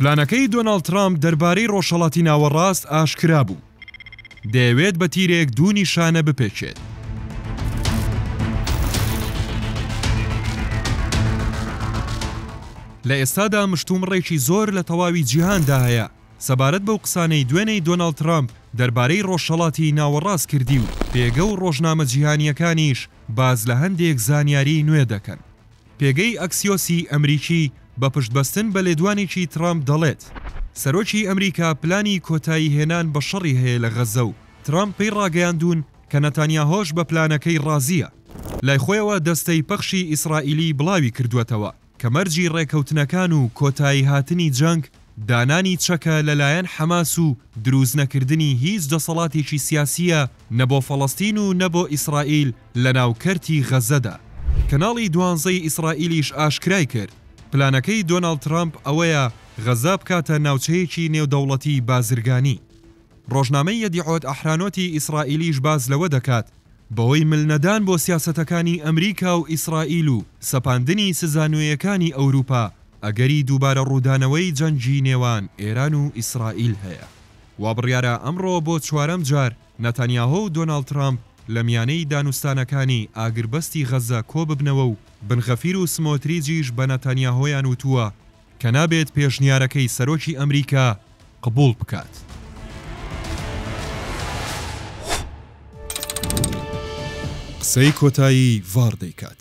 پلانەکەی دۆناڵد ترامپ دەربارەی ڕۆژهەڵاتی ناوەڕاست ئاشکرا بوو. دەیەوێت بە تیرێک دوو نیشانە بپێچێت. لە ئێستادا مشتومڕێکی زۆر لە تەواوی جیهاندا هەیە سەبارەت بەو قسانەی دوێنێی دۆناڵد ترامپ دەربارەی ڕۆژهەڵاتی ناوەڕاست کردی و پێگە و ڕۆژنامە جیهانییەکانیش باس لە هەندێک زانیاریی نوێ دەکەن. پێگەی ئەکسیۆسی ئەمریکی بە پشتبەستن بە لێدوانێکی ترامپ دەڵێت، سەرۆکی ئەمریکا پلانی کۆتایی هێنان بە شەڕی هەیە لە غەززە و ترامپ پێی ڕاگەیاندوون کە نەتانیاهۆش بە پلانەکەی ڕازییە. لای خۆیەوە دەستەی پەخشی ئیسرائیلی بڵاوی کردووەتەوە کە مەرجی ڕێککەوتنەکان و کۆتاییهاتنی جەنگ دانانی چەکە لەلایەن حەماس و دروستنەکردنی هیچ دەسەڵاتێکی سیاسییە نە بۆ فەڵەستین و نە بۆ ئیسرائیل لەناو کەرتی غەزەدا. کەناڵی دوانزەی ئیسرائیلیش ئاشکرای کرد، پلانەکەی دۆناڵد ترەمپ ئەوەیە غەزە بکاتە ناوچەیەکی نێودەوڵەتی بازرگانی. ڕۆژنامەی یەدیعۆت ئەحرانۆتی ئیسرائیلیش باس لەوە دەکات، بەهۆی ملنەدان بۆ سیاسەتەکانی ئەمریکا و ئیسرائیل و سەپاندنی سزا نوێیەکانی ئەوروپا، ئەگەری دووبارە ڕوودانەوەی جەنگی نێوان ئێران و ئیسرائیل هەیە. وابڕیارە ئەمڕۆ بۆ چوارەم جار، ناتانیاهۆ و دۆناڵد ترامپ لە میانەی دانوستانەکانی ئاگربەستی غەززە کۆببنەوە و بن غەفیر و سمۆتریجیش بە ناتانیاهۆیان وتووە کە نابێت پێشنیارەکەی سەرۆکی ئەمریکا قبوڵ بکات. قسەی کۆتایی ڤاڕ دەیکات.